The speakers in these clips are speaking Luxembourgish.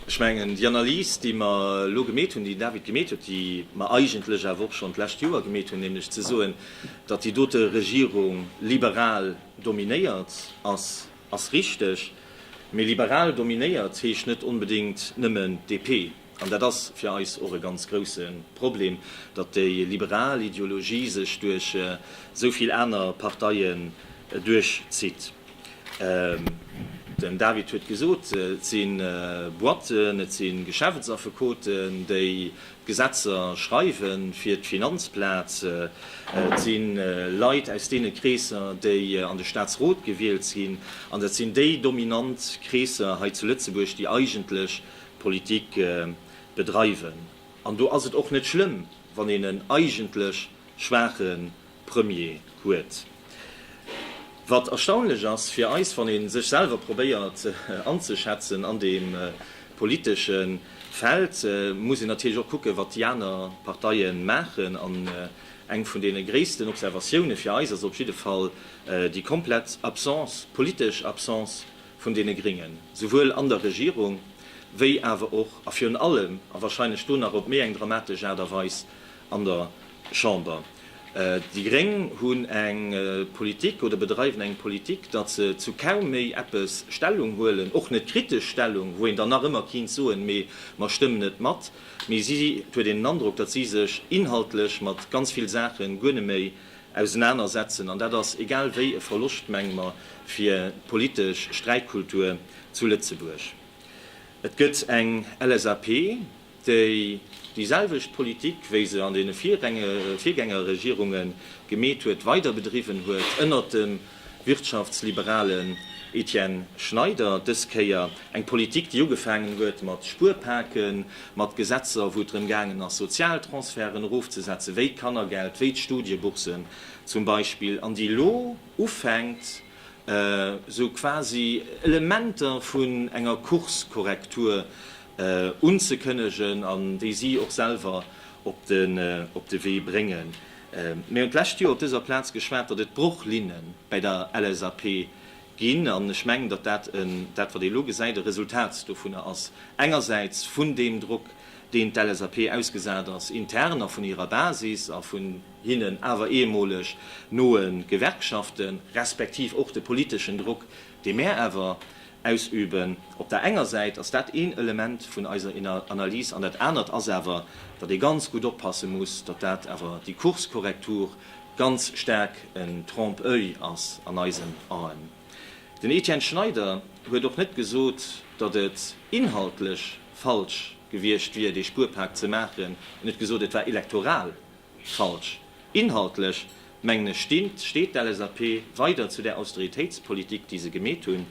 Ech mengen, déi Analys, déi mer elo gemeet hunn, déi den David gemeet huet, déi mer eigentlech awer och schonn d'lescht Joer gemeet hunn, nämlech ze soen, datt déi dote Regierung liberal dominéiert ass, ass richteg. Mee liberal dominéiert heescht net onbedéngt nëmmen DP. An dat ass fir eis och e ganz grouse Problem, datt déi liberal Ideologie sech duerch esou vill aner Parteien duerchzitt. Den David huet gesot, et si Boîten, et si Geschäftsaffekoten, déi d'Gesetzer schreiwe fir d'Finanzplaz, et si Leit aus deene Kreesser, déi an de Staatsrot gewielt sinn, an dat sinn déi dominant Kreesser hei zu Lëtzebuerg, déi eigentlech d'Politik bedreiwen. An do ass et och net schlëmm, wann een en eigentlech schwaache Premier huet. Wat erstaunlech ass fir eis, wann ee sech selwer probéiert anzeschätzen an deem politesche Feld, muss een natierlech och kucken, wat déi aner Parteie maachen. An eng vun deene gréissten Observatioune fir eis ass op jidde Fall déi komplett Absence, politesch Absence vun deene Gréngen, souwuel an der Regierung wéi awer och a virun allem, a wahrscheinlech do nach op méi eng dramatesch Aart a Weis, an der Chamber. Déi Gréng hunn eng Politik oder bedreiwen eng Politik, datt se zu kaum méi eppes Stellung huelen, och net kritesch Stellung, wou een dann nach ëmmer kinnt soen, mee mer stëmmen net mat. Mee si, et huet een den Androck, datt si sech inhaltlech mat ganz vill Saache guer net méi ausenaner setzen. An dat ass egal wéi e Verloscht, menge mer, fir d'politesch Sträitkultur zu Lëtzebuerg. Et gëtt eng LSAP, déi déi selwecht Politik, wéi se an deene Virgängerregierunge gemeet huet, weider bedriwwen huet, ënnert dem wirtschaftsliberalen Etienne Schneider. Dës Kéier eng Politik, déi ugefaangen huet mat Spuerpaken, mat Gesetzer, wou et drëm gaangen ass, Sozialtransferten erofzesetzen, wéi d'Kannergeld, wéi d'Studieboursen zum Beispill, an déi elo ufänkt, esou quasi Elementer vun enger Kurskorrektur unzekënnegen an déi si och selwer op de Wee bréngen. Mir hunn d'lescht Joer op dëser Plaz geschwat, datt et Brochlinne bäi der LSAP ginn, an ech mengen, datt dat, dat wat ee lo gesäit, e Resultat dovunner ass, engersäits vun deem Drock, deem d'LSAP ausgesat ass intern a vun hirer Basis a vun hinnen awer ehemoleg noe Gewerkschaften, respektiv och de politeschen Drock, dee mär awer ausüben, op der enger Säit ass dat een Element vun eiser Analys an dat anert ass awer, datt ee ganz gutt oppasse muss, datt dat awer déi Kurskorrektur ganz staark en Trompe-l'oeil ass an eisen Aen. Den Etienne Schneider huet och net gesot, datt et inhaltlech falsch gewiescht wier dee Spuerpak ze maachen, en huet gesot, et war elektoral Falsch. Inhaltlech, mengen ech, stimmt, steet d'LSAP weider zu där Austeritéitspolitik, déi se gemeet hunn.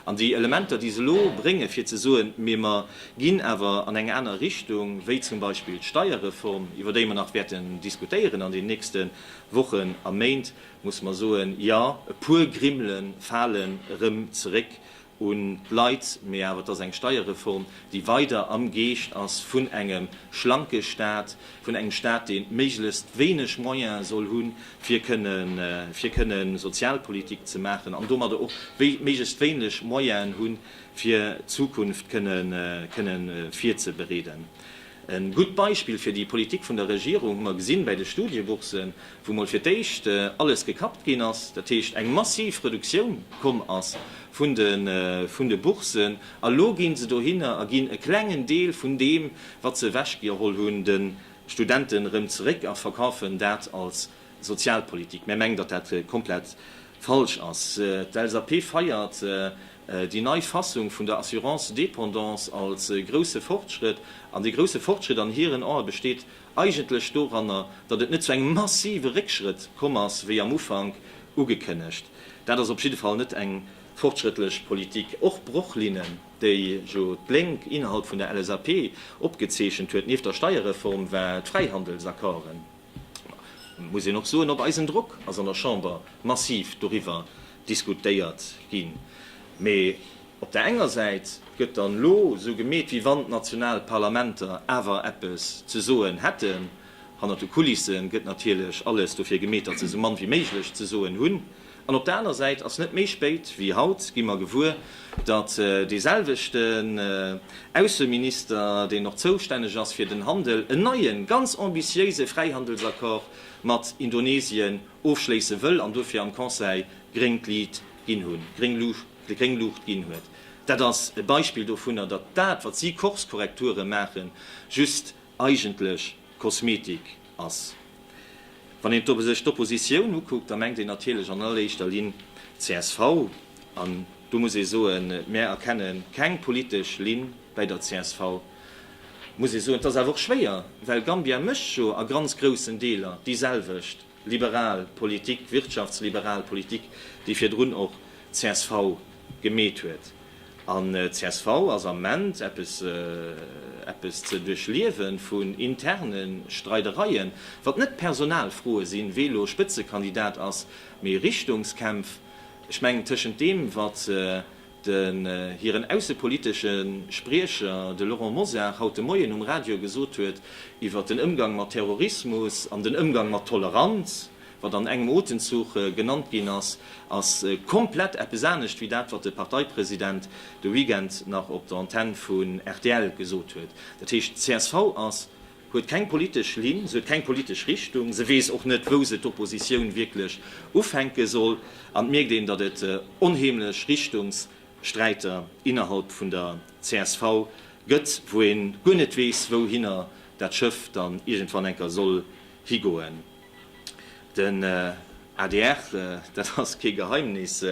An déi Elementer, déi se elo bréngen, fir ze soen, mee mer ginn awer an eng aner Richtung, wéi zum Beispill d'Steierreform, iwwer déi mer nach wäerten diskutéieren an den nächste Wochen a Méint, muss mer soen, Jo, e puer Grimmele falen erëm zeréck, un d'Leit, mee awer et ass eng Steierreform, déi weider am Geescht ass vun engem schlanke Staat, vun engem Staat, dee méiglechst wéineg Moyen soll hunn, fir kënnen, fir kënne Sozialpolitik ze maachen an domadder och méiglechst wéineg Moyenen hunn, fir d'Zukunft kënnen, kënnen virzebereeden. E gutt Beispill fir déi Politik vun der Regierung hu mer gesinn bäi de Studieboursen, wou mol fir d'éischt alles gekappt ginn ass, dat heescht eng massiv Reduktioun komm ass vun de Boursen. A lo gi se dohinner a ginn e klengen Deel vun deem, wat se ewechgeholl hunn, de Studenten erëm zeréck a verkafen dat als Sozialpolitik. Mär mengen, datt dat komplett falsch ass. D'LSAP feiert déi nei Fassung vun der Assurance dépendance als grousse Fortschrëtt. An dee grousse Fortschrëtt an hiren Ae besteet eigentlech doranner, datt et net zu engem massive Réckschrëtt komm ass, wéi am Ufank ugekënnegt. Dat ass op jidde Fall net eng fortschrëttlech Politik. Och d'Brochlinen, déi jo d'Lénk innerhalb vun der LSAP opgezeechent huet, nieft der Steierreform, war d'Fräihandelsaccorden. Et muss een och soen, op eisen Drock ass an der Chamber massiv doriwwer diskutéiert ginn. Mee op der enger Säit gëtt dann elo esou gemeet, wéi wann d'national Parlamenter awer eppes ze soen hätten. Hannert de Kulisse gëtt natierlech alles dofir gemeet, datt se esou mann wéi méiglech ze soen hunn. An op der aner Säit ass net méi spéit wéi haut gi mer gewuer, datt deeselwechten Ausseminister, deen och zoustänneg ass fir den Handel, en neien, ganz ambitiéise Fräihandelsaccord mat Indonesien ofschléisse wëll an dofir am Conseil gréngt Liit ginn hunn, gréng Luucht, gréng Luucht ginn huet. Dat ass e Beispill dovunner, datt dat, wat si Kurskorrekture maachen, just eigentlech Kosmetik ass. Wann een sech d'Oppositioun ukuckt, da mengt een natierlech an alleréischter Linn csv. An do muss ee soen, Mär erkenne keng politesch Linn bäi der csv. Muss ee soen, 't ass awer och schwéier, well Gambia mécht jo a ganz groussen Deeler déi selwecht. liberal Politik, wirtschaftsliberal Politik, déi virdrun och csv gemeet huet. An csv ass am Ment eppes, eppes ze duerchliewe vun interne Streidereien, wat net Personalfroe sinn, wee lo Spëtzekandidat ass, mee Richtungskämpf, ech mengen tëschent deem, wat, den hiren aussepolitesche Spriecher, de Laurent Mosar, haut de Moien um Radio gesot huet iwwert den Ëmgang mat Terrorismus an den Ëmgang mat Toleranz, wat an engem Otemzuch genannt ginn ass, ass komplett eppes anescht wéi dat, wat de Parteipresident de Weekend nach op der Antenne vun rtl gesot huet. Dat heescht, csv ass huet keng politesch Linn, se huet keng politesch Richtung, se weess och net, wou se d'Oppositioun wierklech ufänke soll, an et mierkt een, datt et onheemlech Richtungssträiter innerhalb vun der csv gëtt, wou ee guer net weess, wouhinner dat Schëff dann iergendwann enker soll higoen. Den adr, dat ass kee Geheimnis,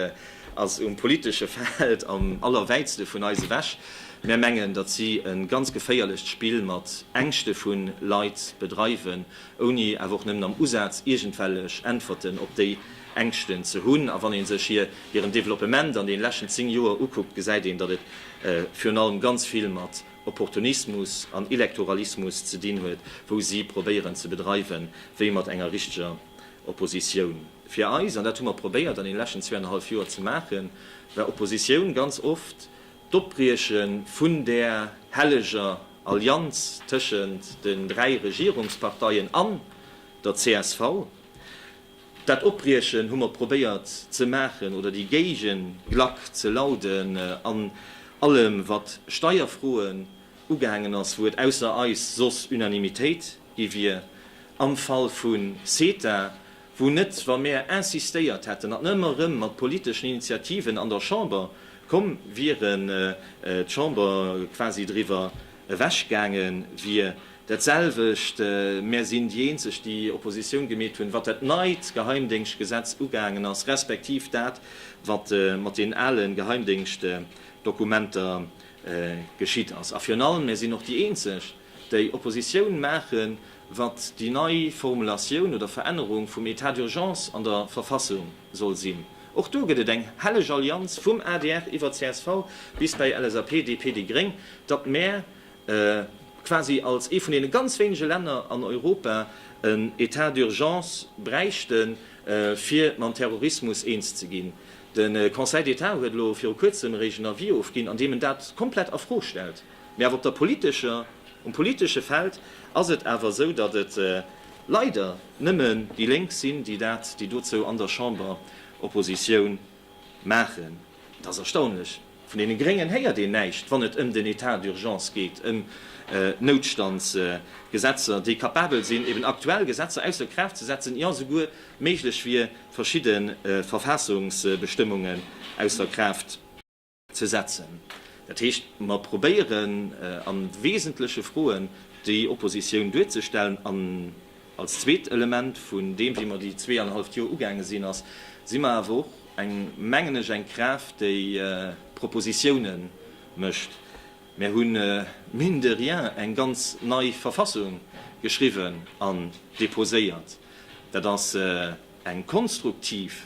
ass um politesche Feld am allerwäitste vun eis ewech. Mär mengen, datt si e ganz geféierlecht Spill mat Ängschte vu Leit bedreiwen, ouni awer och nëmmen am Usaz iergendwellech Äntwerten op déi Ängschten ze hunn. A wann ee sech hir hiren Developpement an deene leschten 10 Joer ukuckt, gesäit een, datt et virun allem ganz vill mat Opportunismus an Elektoralismus ze dinn huet, wou si probéieren ze bedreiwen, wéi mat enger richteger Oppositioun. Fir eis, an dat hu mer probéiert an den leschten zweeannerhallf Joer ze maachen, war Oppositioun ganz oft d'Opbrieche vun där helleger Allianz tëschent den dräi Regierungsparteien an der csv. Dat Opbriechen hu mer probéiert ze maachen oder déi Géigenglack ze lauden an allem wat Steierfroen ugaangen ass, wou et ausser eis soss Unanimitéit gi wier. Am Fall vu CETA, wou net, wa mär insistéiert hätten an ëmmer erëm mat politeschen Initiativen an der Chamber komm wieren, d'Chamber quasi driwwer ewechgaange wier. Dat selwecht, mär sinn déi eenzeg déi Oppositioun gemeet hunn wat dat neit Geheimdéngschtgesetz ugaangen ass, respektiv dat wat mat den ale Geheimdéngschtdokumenter geschitt ass. A virun allem, mär sinn och déi eenzeg déi Oppositioun maachen wat déi nei Formulatioun oder Verännerung vum Etat d'urgence an der Verfassung soll sinn. Och do gëtt et eng helleg Allianz vum adr iwwer csv bis bei LSAP, DP, déi Gréng, datt mär quasi als ee vun deene ganz wéinege Länner an Europa en Etat d'urgence bräichte fir mam Terrorismus eens ze ginn. De Conseil d'Etat huet elo viru kuerzem eréischt en Avis ofginn, an deem en dat komplett a Fro stellt. Mee awer op der politescher, um politesche Feld ass et awer esou, datt et leider nëmmen déi Lénk sinn, déi dat, déi dozou an der Chamber Oppositioun maachen. Et ass erstaunlech. Vun deene Gréngen héiert een näischt, wann et ëm den Etat d'urgence geet, ëm Noutstandsgesetzer, déi kapabel sinn, eben aktuell Gesetzer ausser Kraaft ze setzen, jo souguer méiglech wier, verschidde Verfaassungsbestëmmungen ausser Kraaft ze setzen. Dat heescht, mer probéieren a wesentleche Froen déi Oppositioun duerzestellen an. Als zweet Element vun deem, wéi mer déi zwee an e halleft Joer ugaange sinn, ass, si mer awer och eng, mengen ech, eng Kraaft, déi Propositiounen mécht. Mer hu mine de rien eng ganz nei Verfassung geschriwwen an deposéiert. Dat ass eng konstruktiv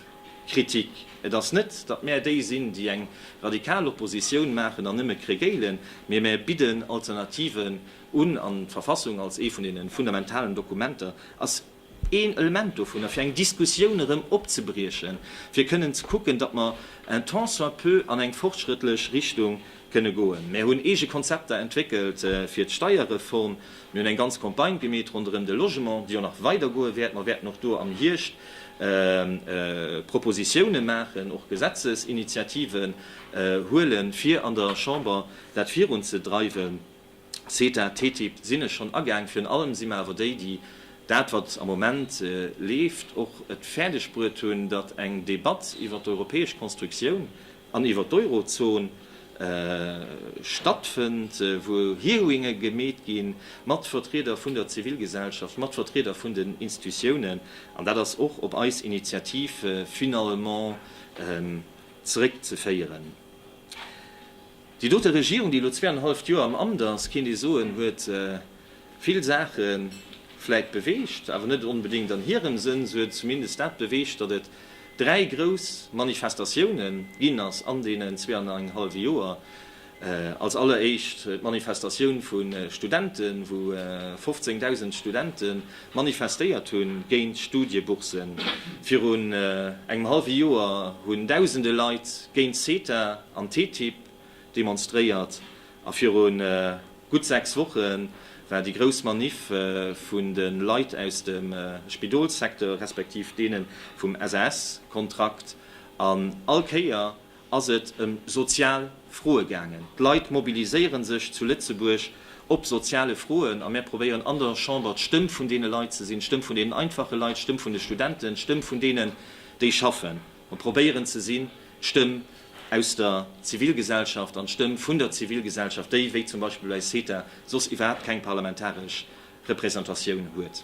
Kritik. Et ass net, datt mer déi sinn, déi eng radikal Oppositioun maachen an nëmme kregéilen, mee mer bidden Alternativen, un, an d'Verfassung als ee vun deene fundamentalen Dokumenter ass een Element dovunner, fir eng Diskussioun erëm opzebriechen, fir kënnen ze kucken, datt mer un tant soit peu an eng fortschrëttlech Richtung kënne goen. Mär hunn eege Konzepter entwéckelt fir d'Steierreform, mir hunn eng ganz Campagne gemeet ronderëm de Logement, déi och nach weidergoe wäert. Mer wäerten och do am Hierscht Propositiounen maachen, och Gesetzesinitiativen huelen, fir an der Chamber dat virunzedreiwen. CETA, TTIP sinn ech schonn agaang. Virun allem si mer awer déi, déi dat, wat am Moment leeft, och et fäerdeg bruet hunn, datt eng Debatt iwwert d'europäesch Konstruktioun an iwwert d'Eurozon stattfënnt, wou Hearinge gemeet gi mat Vertrieder vun der Zivilgesellschaft, mat Vertrieder vun den Institutiounen. An dat ass och op eis Initiativ finalement zeréckzeféieren. Déi dote Regierung, déi elo zweeanenhalleft Joer am Amt ass, kéint ee soen, huet vill Saache vläit beweegt, awer net onbedéngt an hirem Sënn. Se huet zumindest dat beweegt, datt et dräi grouss Manifestatioune ginn ass an deenen zweeanenhallwe Joer. Als alleréischt d'Manifestatioun vu Studenten, wou 15.000 Studenten manifestéiert hunn géint Studieboursen. Virun engem hallwe Joer hunn dausende Leit géint CETA an TTIP demonstréiert a viru gutt 6 Woche war déi grouss Maniff vun de Leit aus dem Spidolssecteur respektiv deene vum SAS-Kontrakt an all Kéier ass et ëm sozial Froe gaangen. D'Leit mobiliséiere sech zu Lëtzebuerg op soziale Froen a mär probéieren an der Chamber d'Stëmm vun deene Leit ze sinn, d'Stëmm vun deenen einfache Leit, d'Stëmm vun de Studenten, d'Stëmm vun deenen, déi schaffen. Mer probéieren ze sinn d'Stëmm aus der Zivilgesellschaft an d'Stëmm vun der Zivilgesellschaft, déi, wéi zum Beispill bei CETA, soss iwwerhaapt keng parlamentaresch Repräsentatioun huet.